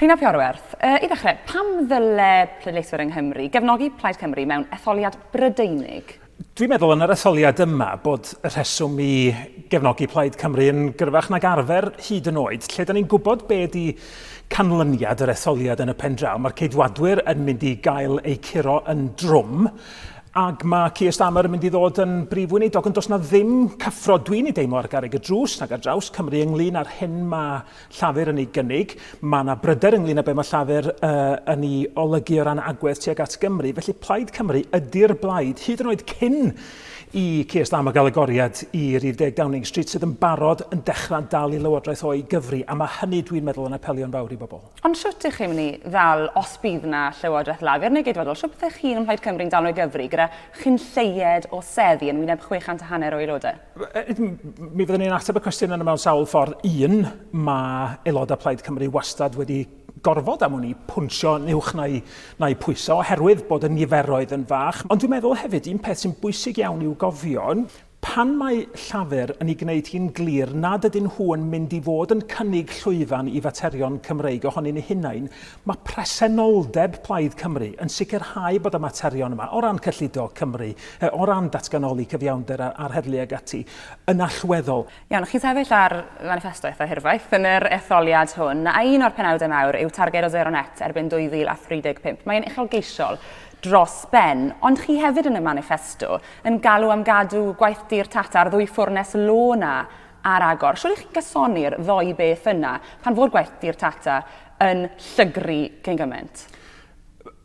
Rhun ap Iorwerth, I ddechrau, pam ddyle pleidleiswyr yng Nghymru gefnogi Plaid Cymru mewn etholiad Brydeinig? Dwi'n meddwl yn yr etholiad yma bod y rheswm i gefnogi Plaid Cymru yn gryfach nag arfer, hyd yn oed lle 'da ni'n gwybod be ydi canlyniad yr etholiad yn y pen draw. Mae'r Ceidwadwyr yn mynd i gael eu curo yn drwm. ac mae Keir Starmer yn mynd i ddod yn brif weinidog, ond does na ddim cyffro dwi'n ei deimlo ar garreg y drws nag ar draws Cymru ynglyn â'r hyn mae Llafur yn ei gynnig. Mae yna bryder ynglyn â be mae Llafur uh, yn ei olygu o ran agwedd tuag at Gymru. Felly Plaid Cymru ydy'r blaid, hyd yn oed cyn i Keir Starmer gael agoriad i rif deg Downing Street sydd yn barod yn dechrau dal i lywodraeth o'i gyfri, a mae hynny dwi'n meddwl yn apelio'n fawr i bobl. Ond shwt ych chi'n mynd i ddal, os bydd na Llywodraeth Lafur neu Geidwadol, shwt byddech chi yn Mhlaid Cymru'n dal o'i gyfri gyda chyn lleied o seddi yn wyneb 600 a hanner o aelodau? Mi fyddwn ni'n ateb y cwestiwn yna mewn sawl ffordd. Un, mae aelodau Plaid Cymru wastad wedi gorfod am wn i pwnsio yn uwch na'u na'u pwysa oherwydd bod y niferoedd yn fach. Ond dwi'n meddwl hefyd un peth sy'n bwysig iawn i'w gofio, Pan mae Llafur yn ei gwneud hi'n glir nad ydyn nhw yn mynd i fod yn cynnig llwyfan i faterion Cymreig ohonyn eu hunain, mae presenoldeb Plaid Cymru yn sicrhau bod y materion yma, o ran cyllido Cymru, o ran datganoli cyfiawnder a'r heddlu ac ati, yn allweddol. Iawn, chi'n sefyll ar faniffesto eitha' hirfaith yn yr etholiad hwn, a un o'r penawdau mawr yw targed o sero net erbyn 2035. Mae'n uchelgeisiol dros ben, ond chi hefyd yn y maniffesto yn galw am gadw gwaith dur Tata a'r ddwy ffwrnes law 'na ar agor. Siŵr i chi'n cysoni'r ddoi beth yna pan fo'r gwaith dur Tata yn llygru cyn gymaint?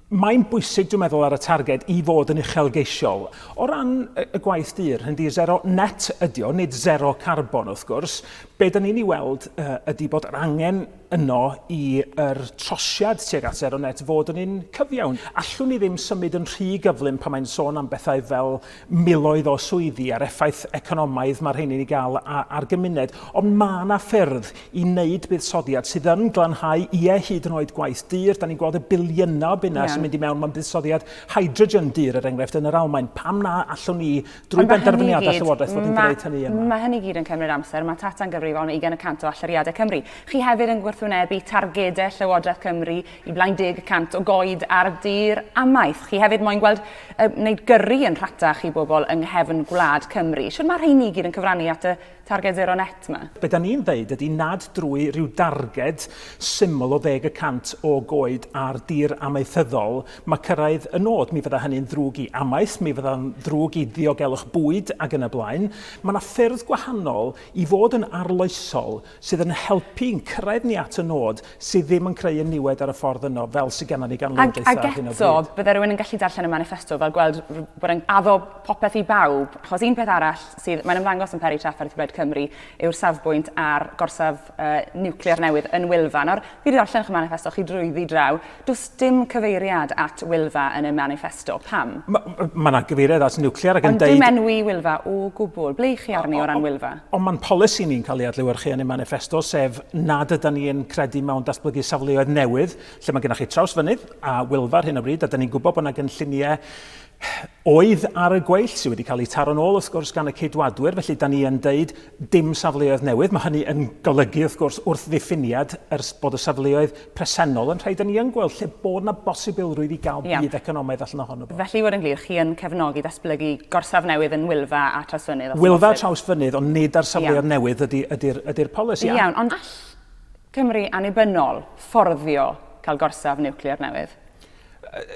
Mae'n bwysig, dwi'n meddwl, ar y targed i fod yn uchelgeisiol. O ran y gwaith dur, hynny ydi zero net ydi o, nid zero carbon wrth gwrs. Be' 'dan ni'n 'i weld ydi bod yr angen yno i yr trosiad tuag at Zero Net fod yn un cyfiawn. Allwn ni ddim symud yn rhy gyflym pan mae'n sôn am bethau fel miloedd o swyddi a'r effaith economaidd mae rheini'n ei gael ar gymuned, ond mae yna ffyrdd i wneud buddsoddiad sydd yn glanhau, ie, hyd yn oed gwaith dur. Da ni'n gweld y biliynau o bunnau sy'n mynd i mewn mewn buddsoddiad hydrogen dur, er enghraifft, yn yr Almaen. Pam na allwn ni Drwy benderfyniadau Llywodraeth fod yn gwneud hynny yma. Mae hynny gyd yn cymryd amser. Mae Tata'n gyfrifol am 20 y cant o allyriadau Cymru. Chi hefyd yn gwrthwynebu targedau Llywodraeth Cymru i blaen deg y cant o goed ar dir amaeth. Chi hefyd moyn gweld uh, wneud gyrru yn rhatach i bobl yng nghefn gwlad Cymru. Siwr mae rheini gyd yn cyfrannu at y Targed zero net 'ma. Be da ni'n ddeud ydi nad drwy ryw darged syml o ddeg y cant o goed ar dir amaethyddol mae cyrraedd y nod. Mi fydda hynny'n ddrwg i amaeth, mi fydda'n ddrwg i ddiogelwch bwyd ac yn y blaen. Mae 'na ffyrdd gwahanol i fod yn arloesol sydd yn helpu i'n cyrraedd ni at y nod sydd ddim yn creu y niwed ar y ffordd yno fel sy genna ni gan lywodraeth ar hyn o bryd. Ac eto, bydde rhywun yn gallu darllen y maniffesto fel gweld bod e'n addo popeth i bawb, achos un peth arall sydd, mae'n ymddangos yn peri trafferth Gwled Cymru, yw'r safbwynt ar gorsaf uh, niwclear newydd yn Wylfa. Nawr, fi wedi darllen eich manifesto chi drwyddi draw. Does dim cyfeiriad at Wylfa yn y manifesto. Pam? Mae ma yna gyfeiriad at niwclear ac yn deud... Ond dim enwi Wylfa o gwbl. Ble i chi arni o ran Wylfa? Ond mae'n polisi ni'n cael ei adlewyrchu yn y manifesto, sef nad ydy ni'n credu mewn datblygu safleoedd newydd, lle mae gennych chi trawsfynydd a Wylfa ar hyn o bryd, a da ni'n gwybod bod yna gynlluniau oedd ar y gweill, sydd wedi cael eu taro'n ôl wrth gwrs gan y Ceidwadwyr, felly da ni yn deud dim safleoedd newydd. Mae hynny yn golygu wrth gwrs wrth ddiffiniad yr, bod y safleoedd presennol yn rhai da ni yn gweld lle bod yna bosibilrwydd i gael budd economaidd allan ohono fo. Felly i fod yn glir, chi yn cefnogi datblygu gorsaf newydd yn Wylfa a Trawsfynydd? Wylfa a Trawsfynydd ond nid ar safleoedd newydd ydy, ydy'r, ydy'r polisi. Iawn, ond all Cymru annibynnol fforddio cael gorsaf niwclear newydd?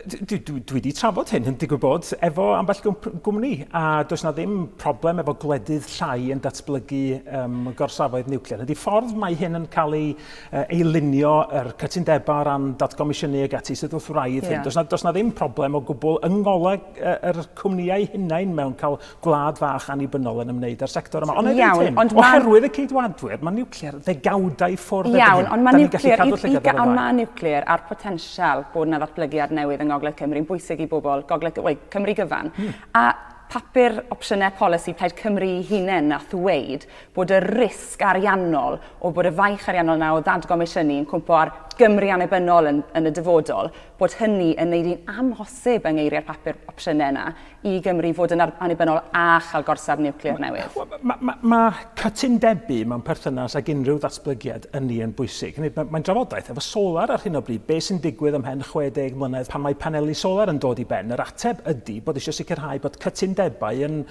dwi, dwi, dwi wedi trafod hyn yn digwydd bod efo ambell gwmni a does na ddim problem efo gwledydd llai yn datblygu um, gorsafoedd niwclear. Ydy ffordd mae hyn yn cael ei, uh, ei lunio yr cytundebau o ran datgomisiynu ag ati sydd wrth wraidd yeah. hyn. Does na, does na ddim problem o gwbl yng ngoleg uh, yr cwmnïau hunain mewn cael gwlad fach annibynnol yn ymwneud â'r sector yma. Ond hefyd Iawn, hyn, ond oherwydd y ceidwadwyr, mae nuclear ddegawdau ffwrdd Iawn, ond mae nuclear, ond mae nuclear a'r potensial bod yna ddatblygiad newydd yng Ngogledd Cymru yn bwysig i bobl Gogledd Cymru, Cymru gyfan. Hmm. A papur opsiynau polisi Plaid Cymru i hunain na ddweud bod y risg ariannol o bod y faich ariannol yna o ddadgomisiynu yn cwmpo ar Gymru annibynnol yn, yn y dyfodol, bod hynny yn neud hi'n amhosib yng ngeiriau'r papur opsiynau yna i Gymru fod yn annibynnol a chael gorsaf niwclear newydd? Mae ma, ma cytundebau mewn perthynas ag unrhyw ddatblygiad ynni yn bwysig. Mae'n ma drafodaeth efo solar ar hyn o bryd, beth sy'n digwydd ymhen 60 mlynedd pan mae paneli solar yn dod i ben. Yr ateb ydy bod eisiau sicrhau bod cytundebau yn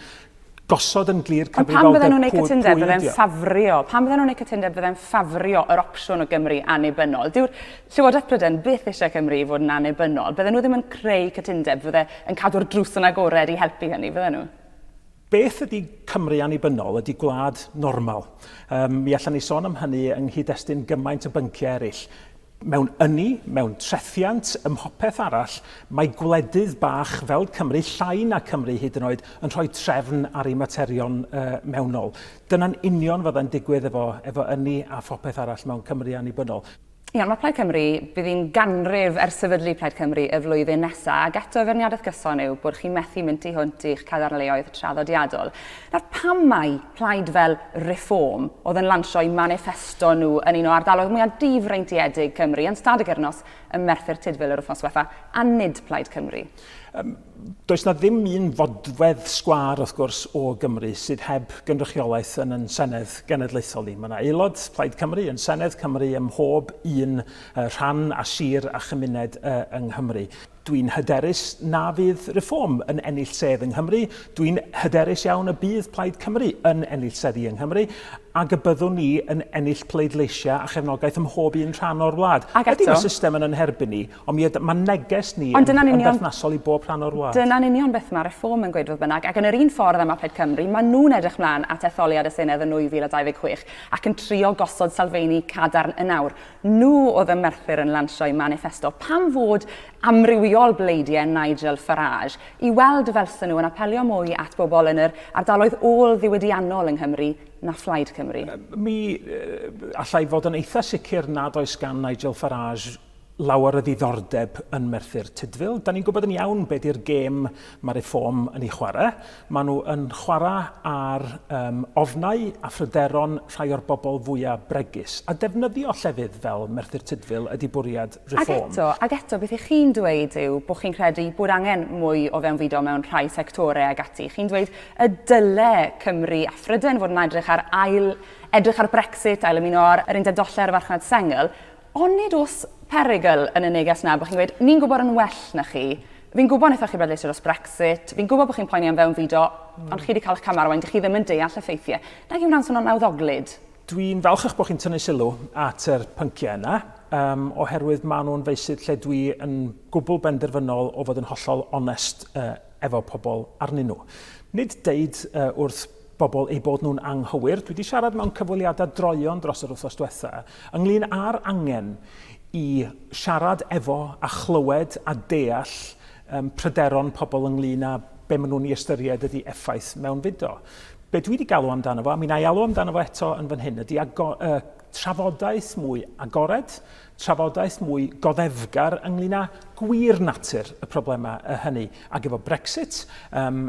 gosod yn glir cyfrifoldeb pwy Ond pan fydden nhw'n ei cytundeb, fydden ffafrio, pan fydden nhw'n ei cytundeb, fydden ffafrio yr opsiwn o Gymru annibynnol. Dyw'r Llywodraeth Prydain byth eisiau Cymru i fod yn annibynnol. Bydden nhw ddim yn creu cytundeb fydde yn cadw'r drws yn agored i helpu hynny, fydden nhw? Beth ydy Cymru annibynnol? Ydy gwlad normal? Yym, mi allan ni sôn am hynny yng nghyd-destun gymaint o bynciau eraill. Mewn ynni, mewn trethiant, ym mhopeth arall, mae gwledydd bach fel Cymru, llai na Cymru hyd yn oed, yn rhoi trefn ar ei materion yy mewnol. Dyna'n union fyddai'n digwydd efo efo ynni a phopeth arall mewn Cymru annibynnol. Iawn, mae Plaid Cymru, bydd hi'n ganrif ers sefydlu Plaid Cymru y flwyddyn nesaf, ac eto y feirniadaeth gyson yw bod chi methu mynd tu hwnt i'ch cadarnleoedd traddodiadol. Nawr, pam mai plaid fel Reform oedd yn lansio eu maniffesto nhw yn un o ardaloedd mwyaf difreintiedig Cymru yn Stad y Gyrnos ym Merthyr Tudful yr wythnos diwetha', a nid Plaid Cymru? Does na ddim un fodfedd sgwâr, wrth gwrs, o Gymru sydd heb gynrychiolaeth yn yn Senedd Genedlaethol ni. Mae yna aelod Plaid Cymru yn Senedd Cymru ym mhob un rhan a sir a chymuned yng Nghymru. Dwi'n hyderus na fydd Reform yn ennill sedd yng Nghymru, dwi'n hyderus iawn y bydd Plaid Cymru yn ennill seddi yng Nghymru, ac y byddwn ni yn ennill pleidleisiau a chefnogaeth ym mhob un rhan o'r wlad. Ydy mae system yn yn herbyn ni? Ond mi ydy, mae neges ni yn, yn berthnasol i bob rhan o'r wlad. Dyna'n union beth mae Reform yn gweud fodd bynnag, ac yn yr un ffordd â ma Plaid Cymru, maen nhw'n edrych mlaen at etholiad y Senedd yn 2026 ac yn trio gosod sylfeini cadarn yn awr. Nhw oedd ym Merthyr yn lansio'u maniffesto. Pam fod amrywiol bleidiau Nigel Farage i weld felson nhw yn apelio mwy at bobl yn yr ardaloedd ôl-ddiwydiannol yng Nghymru na Phlaid Cymru? Mi allai fod yn eitha sicr nad oes gan Nigel Farage lawer o ddiddordeb yn Merthyr Tudful. Da ni'n gwybod yn iawn be di'r gêm mae Reform yn ei chwarae. Mae nhw yn chwarae ar um, ofnau a phryderon rhai o'r bobl fwyaf bregus. A defnyddio llefydd fel Merthyr Tudful ydy bwriad Reform. Ac eto, ac eto, beth ych chi'n dweud yw bod chi'n credu bod angen mwy o fewnfudo mewn rhai sectorau ag ati. Chi'n dweud y dyle Cymru a Phrydain fod yn edrych ar ail edrych ar Brexit, ail ymuno ar yr undeb dollau'r farchnad sengl, Ond nid oes perygl yn y neges na bod chi'n gweud, ni'n gwybod yn well na chi, fi'n gwybod wnaethoch chi bleidleisio dros Brexit, fi'n gwybod bod chi'n poeni am fewnfudo, ond chi wedi cael eich camau ar wain, dych chi ddim yn deall y ffeithiau. Nag yw hwnna'n swnio'n nawddoglyd? Dwi'n falchach bod chi'n tynnu sylw at yr pynciau yna, um, oherwydd maen nhw'n feysydd lle dwi yn gwbl benderfynol o fod yn hollol onest uh, efo pobl arnyn nhw. Nid deud uh, wrth bobl eu bod nhw'n anghywir. Dwi 'di siarad mewn cyfweliadau droeon dros yr wythnos diwetha' ynglŷn â'r angen i siarad efo a chlywed a deall yym pryderon pobl ynglŷn â be' ma' nhw'n 'i ystyried ydi effaith mewnfudo. Be' dwi 'di galw amdano fo, a mi wna i alw amdano fo eto yn fan hyn, ydi ago- yy trafodaeth mwy agored, trafodaeth mwy goddefgar ynglŷn â gwir natur y problemau yy hynny. Ac efo Brexit, yym